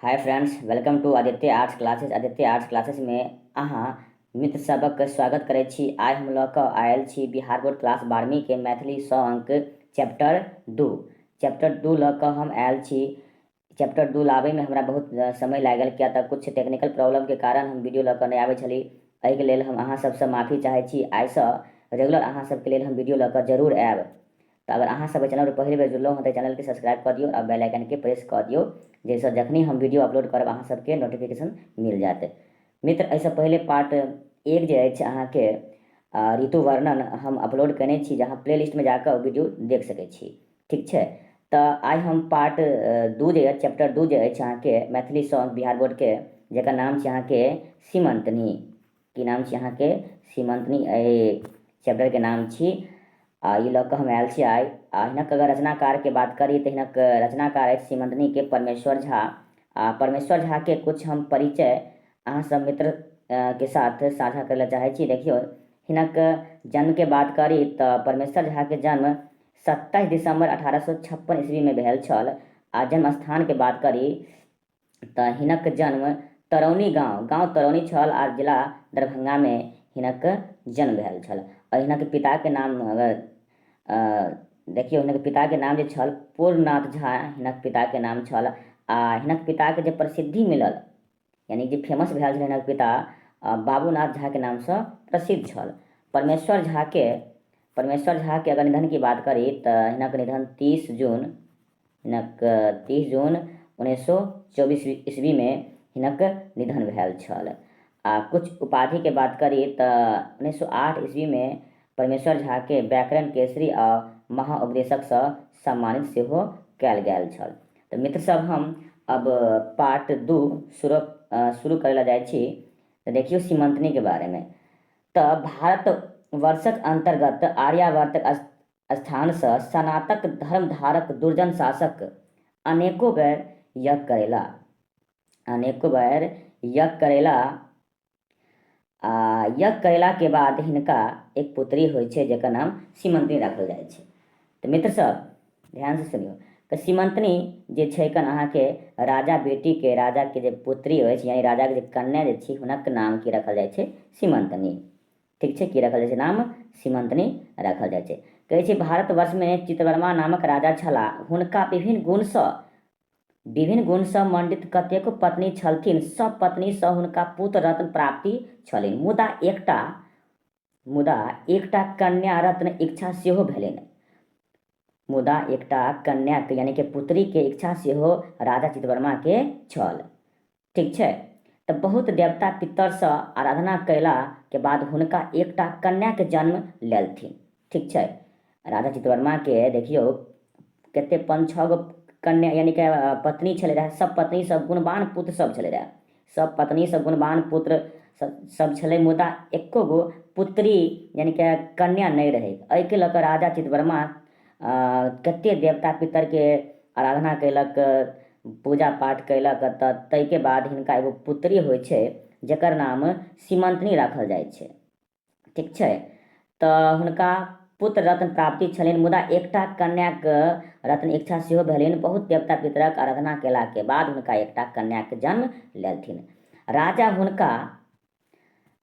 Hi friends welcome to Aditya arts classes Aditya arts classes में अहाँ मित्र सबक स्वागत करै छी आइ हम लऽ कऽ आयल छी बिहार बोर्ड क्लास बारहवीं के मैथिली सौ अंक चैप्टर दू चैप्टर दू लऽ कऽ हम आयल छी चैप्टर दू लाबैमे हमरा बहुत समय लागल किया तऽ किछु टेक्निकल प्रॉब्लमके कारण हम वीडियो लऽ कऽ नहि आबै छली एहिके लेल हम अहाँ सबसँ माफी चाहै छी आइसँ रेगुलर अहाँ सबके लेल हम वीडियो लऽ कऽ जरूर आयब त अगर अहाँ सब एहि चैनल पर पहिल बेर जुड़लहुँ हँ त एहि चैनल के सब्सक्राइब क दियौ आ बेल आइकन के प्रेस क दियौ जाहि सँ जखने हम वीडियो अपलोड करब अहाँ सब के नोटिफिकेशन मिल जायत। मित्र एहि सँ पहिले पार्ट एक जे अछि अहाँ के ऋतु वर्णन हम अपलोड कयने छी जे अहाँ प्ले लिस्ट मे जा क ओ वीडियो देख सकैत छी। ठीक छै त आइ हम पार्ट दू जे अछि चैप्टर दू जे अछि अहाँ के मैथिली सॉन्ग बिहार बोर्ड के जेकर नाम छी अहाँ के सीमंतनी। की नाम छी अहाँके सीमंतनी चैप्टर के नाम छी आ ई लऽ कऽ हम आयल छी आइ आ हिनक अगर रचनाकार के बात करी तऽ हिनक रचनाकार अछि सीमंतनी के परमेश्वर झा आ परमेश्वर झा के कुछ हम परिचय अहाँ सब मित्र के साथ साझा करे ला चाहे छी देखियो हिनक जन्म के बात करी तऽ परमेश्वर झा के जन्म सत्ताईस दिसंबर अठारह सौ छप्पन ईस्वी में भेल छल आ जन्म स्थान के बात करी तँ हिनक जन्म तरौनी गाँव, गाँव तरौनी छल आ जिला दरभंगामे हिनक जन्म भेल छल। आ हिनक पिताक नाम अगर देखियौ हिनक पिताक नाम जे छल पूर्णनाथ झा हिनक पिताक नाम छल आ हिनक पिताकेँ जे प्रसिद्धि मिलल यानि जे फेमस भेल छल हिनक पिता बाबूनाथ झाक नामसँ प्रसिद्ध छल। परमेश्वर झाकेँ परमेश्वर झाक अगर निधनक बात करी तँ हिनक निधन तीस जून हिनक तीस जून उन्नैस सए चौबीस ईस्वीमे हिनक निधन भेल छल आ किछु उपाधिके बात करी तऽ उन्नैस सए आठ ईस्वीमे परमेश्वर झाके व्याकरण केसरी आ महाउपदेशकसँ सम्मानित सेहो कयल गेल छल तऽ मित्र सब हम अब पार्ट दू शुरू शुरू करै लए जाइ छी तऽ देखियौ सीमंतनीके बारेमे तऽ भारत वर्षक अंतर्गत आर्यावर्तक स्थानसँ सनातक धर्मधारक दुर्जन शासक अनेको बेर यज्ञ करेला अनेको बेर यज्ञ करेला आ यज्ञ करेलाके बाद हिनका एक पुत्री होइ छै जकर नाम सीमंतनी राखल जाइ छै तऽ मित्र सब ध्यानसँ सुनियौ तऽ सीमंतनी जे छै कन अहाँके राजा बेटीके राजाके जे पुत्री अछि यानि राजाके जे कन्या जे छी हुनक नाम की राखल जाइ छै सीमंतनी ठीक छै की रखल जाइ छै नाम सीमंतनी रखल जाइ छै कहै छै भारतवर्षमे चित्रवर्मा नामक राजा छलाह हुनका विभिन्न गुणसँ विभिन्न गुणसँ मंडित कतेको पत्नी छलथिन सब पत्नीसँ हुनका पुत्र रत्न प्राप्ति छलनि मुदा एकटा मुदा एकटा कन्या रत्न इच्छा सेहो भेलनि मुदा एकटा कन्याके यानि कि पुत्रीके इच्छा सेहो राजा चितवर्माके छल ठीक छै तऽ बहुत देवता पितरसँ आराधना कयलाके बाद हुनका एकटा कन्याके जन्म लेलथिन ठीक छै राजा चितवर्माके देखियौ कते पाँच छओ गो कन्या यानि कि पत्नी छलै रहए सब पत्नी सब गुणवान पुत्र सब छलै रहए सब पत्नी सब गुणवान पुत्र सब छलै मुदा एको गो पुत्री यानि कि कन्या नहि रहै एहिके लऽ कऽ राजा चितवर्मा कतेक देवता पितरके आराधना कयलक पूजा पाठ कयलक तऽ ताहिके बाद हिनका एगो पुत्री होइ छै जकर नाम सीमंतनी राखल जाइ छै ठीक छै तऽ हुनका पुत्र रत्न प्राप्ति छलनि मुदा एकटा कन्याक रत्न इच्छा सेहो भेलनि बहुत देवता पितरक आराधना कयलाके बाद हुनका एकटा कन्याक जन्म लेलथिन राजा हुनका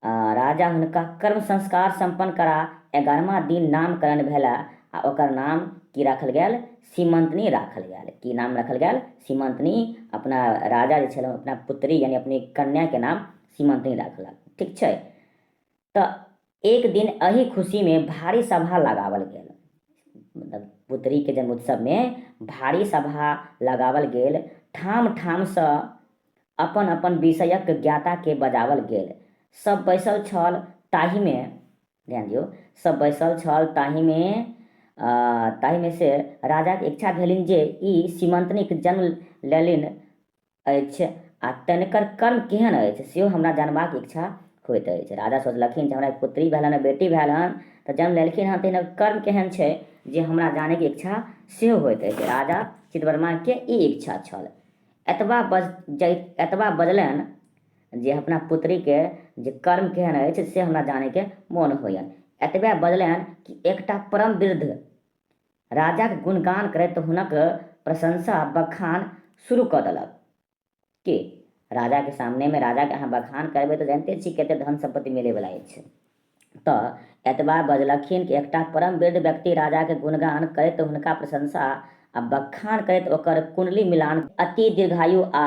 राजा हुनका कर्म संस्कार सम्पन्न करा एगारहमा दिन नामकरण भेल आ ओकर नाम की राखल गेल सीमंतनी राखल गेल की नाम राखल गेल सीमंतनी अपना राजा जे छल अपना पुत्री यानी अपनी कन्याके नाम सीमंतनी राखलक ठीक छै तऽ एक दिन अही खुशी में भारी सभा लगावल गेल मतलब पुत्री के जन्म उत्सव में भारी सभा लगावल गेल ठाम ठाम से अपन अपन विषयक ज्ञाता के बजावल गेल सब बैसल छल ताही में ध्यान दियो सब बैसल छल ताही में ताही में से राजा के इच्छा भेलिन जे ई सीमंतनी के जन्म लेलिन अछि आ तनिकर कर्म केहन अछि सेहो हमरा जानबाक इच्छा होइत अछि राजा सोचलखिन जे हमरा एक पुत्री भेल हन बेटी भेल हन तऽ जन्म लेलखिन हन तऽ हिनकर कर्म केहन छै जे हमरा जानैके इच्छा सेहो होइत अछि राजा चितवर्माके ई इच्छा छल एतबा बज जै एतबा बजलनि जे अपना पुत्रीके जे कर्म केहन अछि से हमरा जानैके मोन होइए एतबे बजलनि कि एकटा परम वृद्ध राजाक गुणगान करैत हुनक प्रशंसा आ बखान शुरू कऽ देलक। की, राजाक सामनेमे राजाक अहाँ बखान करबै तँ जनिते छी कतेक धन-सम्पत्ति मिलैबला अछि। तँ एतबा बजलखिन कि एकटा परमवृद्ध व्यक्ति राजाक गुणगान करैत हुनका प्रशंसा आ बखान करैत ओकर कुण्डली मिलान कऽ अति दीर्घायु आ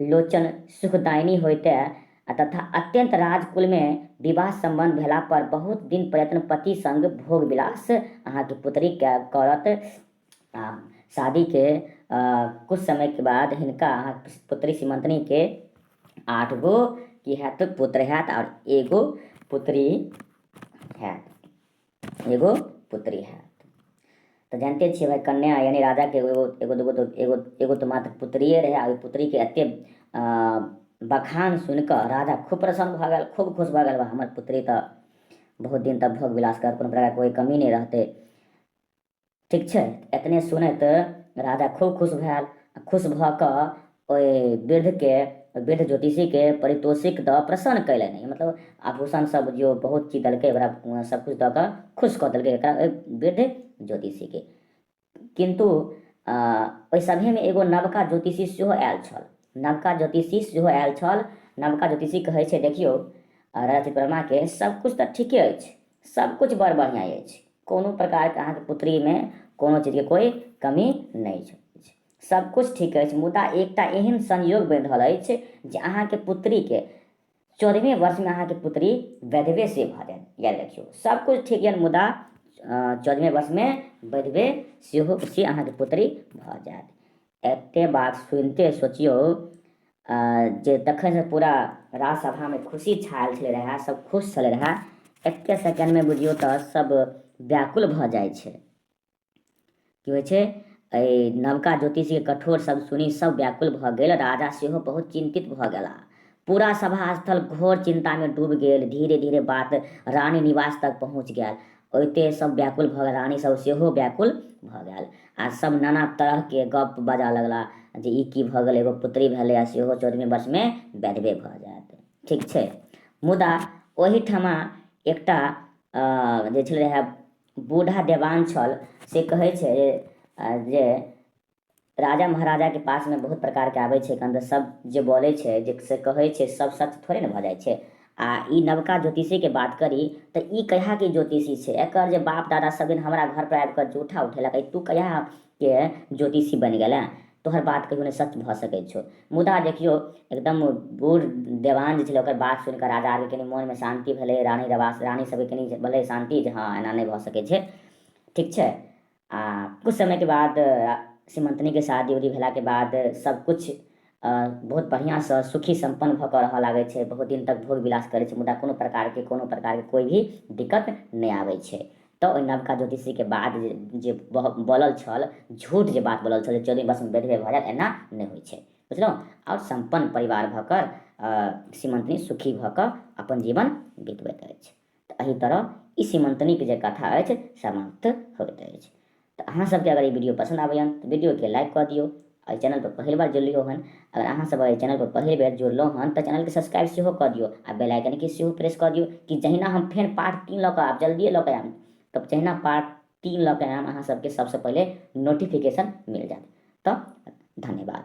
लोचन सुखदायिनी होइते आ तथा अत्यन्त राजकुलमे विवाह सम्बन्ध भेला पर बहुत दिन प्रयत्न पति संग भोग विलास अहाँके पुत्रीके करत आ शादीके कुछ समयके बाद हिनका अहाँ पुत्री सीमन्तनीके आठ गो की हैत पुत्र हैत आओर एगो पुत्री हैत एगो पुत्री है तऽ जानिते छियै भाइ कन्या यानि राजाके एगो एगो एगो दूगो तऽ एगो एगो तऽ मात्र पुत्रिए रहै आ ओहि पुत्रीके एतेक बखान सुनि कऽ राजा खूब प्रसन्न भऽ गेल खूब खुश भऽ गेल बा हमर पुत्री तऽ बहुत दिन तक भोग विलास करत कोनो प्रकारके कोइ कमी नहि रहतै ठीक छै एतने सुनैत राजा खूब खुश भेल खुश भऽ कऽ ओहि वृद्धके वृद्ध ज्योतिषीके परितोषिक दऽ प्रसन्न कयलनि मतलब आभूषण सब जो बहुत चीज देलकै ओकरा सबकिछु दऽ कऽ खुश कऽ देलकै एकरा ओहि वृद्ध ज्योतिषीके किन्तु ओहि सभेमे एगो नवका ज्योतिषी सेहो आयल छल नवका ज्योतिषी सेहो आयल छल नवका ज्योतिषी कहै छै देखियौ राजा चित्रमा के सब कुछ तऽ ठीके अछि सब कुछ बड़ बढ़िया अछि कोनो प्रकारके अहाँके पुत्रीमे कोनो चीजके कोइ कमी नहि छै सबकिछु ठीक अछि मुदा एकटा एहन संयोग बनि रहल अछि जे अहाँके पुत्रीके चौदहवें वर्षमे अहाँके पुत्री वैधवे से भऽ जायत या देखियौ सबकिछु ठीक यऽ मुदा चौदहवें वर्षमे वैधवे सेहो से अहाँके पुत्री भऽ जायत एते बात सुनिते सोचियौ जे तखन से पूरा राजसभामे खुशी छायल छलै रहए सब खुश छलै रहए एके सेकेंडमे बुझियौ तऽ सब व्याकुल भऽ जाइ छै की होइ छै एहि नवका ज्योतिषीके कठोर सब सुनी सब व्याकुल भऽ गेल राजा सेहो बहुत चिन्तित भऽ गेला पूरा सभा स्थल घोर चिन्तामे डूबि गेल धीरे धीरे बात रानी निवास तक पहुँच गेल ओइते सब व्याकुल भऽ गेल रानी सब सेहो व्याकुल भऽ गेल आ सब नाना तरह के गप बजा लगला जे ई की भऽ गेल एगो पुत्री भेलै आ सेहो चौदहवें वर्ष में वैधवे भऽ जायत ठीक छै मुदा ओहिठमा एकटा जे छलै रहए बूढ़ा देवान छल से कहै छै जे राजा महाराजाके पासमे बहुत प्रकारके आबै छै कन्द सब जे बोलै छै जे से कहै छै सब सच थोड़े ने भऽ जाइ छै आ ई नवका ज्योतिषीके बात करी तऽ ई कहियाके ज्योतिषी छै एकर जे बाप दादा सब दिन हमरा घरपर आबि कऽ जूठा उठेलक तू कहियाके ज्योतिषी बनि गेलै तोहर बात कहियो नहि सच भऽ सकै छौ मुदा देखियौ एकदम बूढ़ देवान जे छलै ओकर बात सुनि कऽ राजा आरके कनि मोनमे शान्ति भेलै रानी रवास रानी सबके कनि भेलै शान्ति जे हँ एना नहि भऽ सकै छै ठीक छै आ कुछ समय के बाद सीमंतनी के शादी उदी भेला के बाद सब कुछ बहुत बढ़िया से सुखी संपन्न भ के रहय लागे छै बहुत दिन तक भोग विलास करे छै मुदा कोनो प्रकार के कोनो प्रकार के कोई भी दिक्कत नहीं आवे छै तो ओहि नवका ज्योतिषी के बाद जे बोलल छल झूठ जे बात बोलल छल चौदह वर्ष में बेधबे भ जायत एना नहीं होइ छै बुझलहुँ और संपन्न परिवार भऽ कऽ सीमंतनी सुखी भऽ कऽ अपन जीवन बितबैत अछि तऽ एहि तरह ई सीमंतनीके जे कथा अछि समाप्त होइत अछि तऽ अहाँ सबके अगर ई वीडियो पसंद आबैए तऽ वीडियोके लाइक कऽ दियौ एहि चैनल पर पहिल बार जुड़लियो हन अगर अहाँ सब एहि चैनल पर पहिल बेर जुड़लहुँ हन तऽ चैनलके सब्सक्राइब सेहो कऽ दियौ आ बेल आइकनके सेहो प्रेस कऽ दियौ कि जहिना हम फेर पार्ट तीन लऽ कऽ आब जल्दिए लऽ कऽ आयब तब जहिना पार्ट तीन लऽ कऽ आयब अहाँ सबके सबसँ पहिले नोटिफिकेशन मिल जायत तऽ धन्यवाद